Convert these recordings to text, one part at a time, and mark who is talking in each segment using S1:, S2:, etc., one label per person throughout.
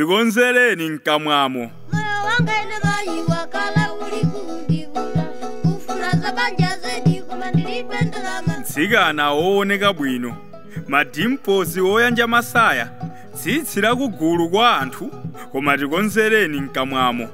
S1: tikonzereni mkamwamo moyo wanga ine mayi wakala uli kundivula kufuna za banja zedi koma ndilibe ndalama mtsikana wooneka bwino madimpozi woyanja masaya tsitsi lakugulu kwa anthu koma tikonzereni mkamwamo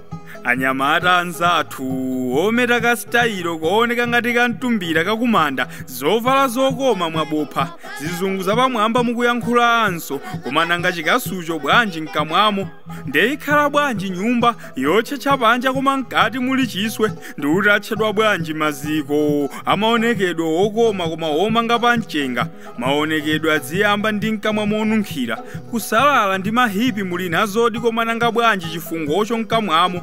S1: anyamata anzathu ometa kasitayiro kooneka ngati kamtumbira kakumanda zovala zokoma mwabopha zizungu zapamwamba mukuyankhulanso koma nanga chikasucho bwanji mkamwamo nde ikhala bwanji nyumba yotchetcha panja koma mkati muli chiswe ndiuti atchedwa bwanji maziko amaonekedwe okoma koma omanga pa mchenga maonekedwe aziyamba ndi mkamwa monunkhira kusalala ndi mahipi muli nazodi koma nanga bwanji chifungocho mkamwamo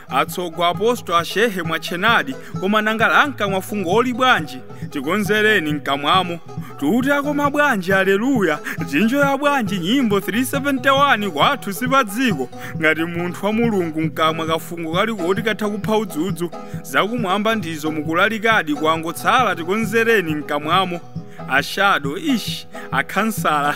S1: atsogo apostoli ashehe mwatchenadi koma nanga la mkamwa fungoli bwanji tikonzereni mkamwamo tuti akoma bwanji aleluya azinjoya bwanji nyimbo 371 kwathu sipadziko ngati munthu wa mulungu mkamwa kafungo kali koti katha kupha udzudzu zakumwamba ndizo mukulalikadi kwangotsala tikonzereni mkamwamo ashado ish akhansala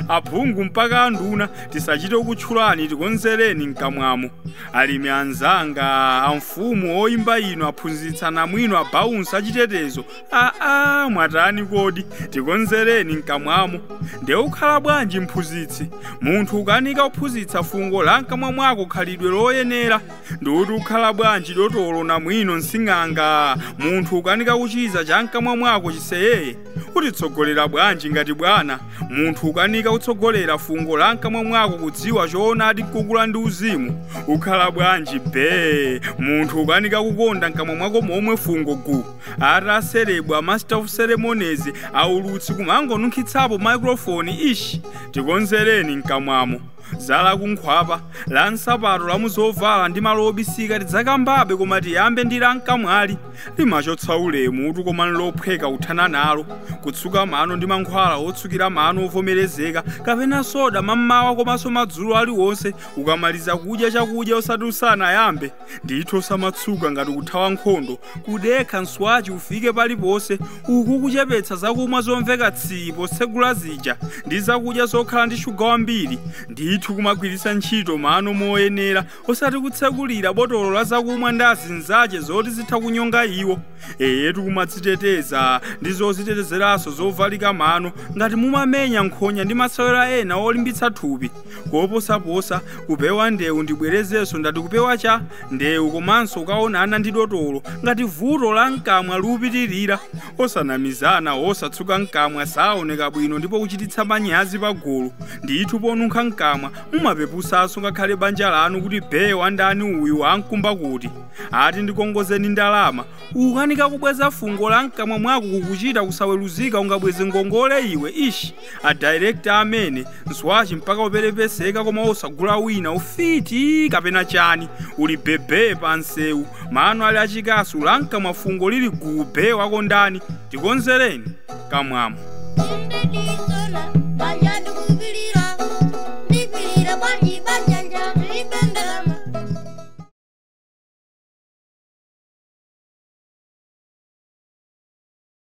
S1: aphungu mpaka anduna tisachite kutchulani tikonzereni mkamwamo alimi anzanga amfumu oyimba inu aphunzitsi anamwino abaunsa achitetezo aa mwatani kodi tikonzereni mkamwamo nde ukhala bwanji mphunzitsi munthu ukanika kuphunzitsa fungo la mkamwa mwako khalidwe loyenera ndiuti ukhala bwanji dotolo namwino nsing'anga munthu ukanika kuchiza cha mkamwa mwako chiseyeye utitsogolera bwanji ngati bwana munthu ukanika kutsogolera fungo la mkamwa mwako kudziwa choonadi kukula ndi uzimu ukhala bwanji be munthu ukanika kukonda mkamwa mwako momwe fungo gu ati aserebu a master of ceremonies aulutsi kumangonunkhitsapo microphone ishi tikonzereni mkamwamo za la kunkhwapa la msapato la muzovala ndi malo obisika tidzakambabe koma tiyambe ndi la mkamwali limachotsa ulemutu koma nlophweka kuthana nalo kutsuka mano ndi mankhwala otsukira mano ovomerezeka kapena soda mammawa komanso madzulo aliwonse ukamaliza kudya chakudya osati usanayambe ndithu osamatsuka ngati kuthawa nkhondo kudekha mswachi ufike paliponse uku kuchepetsa zakumwa zomveka tsii potsegula zija ndi zakudya zokhala ndi shuga wambiri ndithu kumagwiritsa ntchito mano moyenera osati kutsekulira botolo la zakumwa ndi azinzache zoti zitha kunyonga iwo eyetu kumadziteteza ndi zodzitetezeranso zovalika mano ngati mumamenya nkhonya ndi masewera ena olimbitsa thupi koposaposa kupewa ndewu ndibwerezenso ndati kupewa cha ndewu komanso ukaonana ndi dotolo ngati vuto la mkamwa lipitirira osanamizana osatsuka mkamwa saoneka bwino ndipo kuchititsa manyazi pagulu ndithu ponunkha mkamwa mumapepusanso ngakhale banja lanu kuti be wandani uyu ankumba kuti ati ndikongozeni ndalama ukanika kubweza fungo la mkamwa mwako kukuchita kusaweruzika ungabweze ngongole iwe ishi adirekta amene nswachi mpaka uperepeseka koma osagula wina ufiti kapena chani uli bebe pa msewu mano ali achikasu la nkamwa fungo lili gube wako ndani tikonzereni kamwamo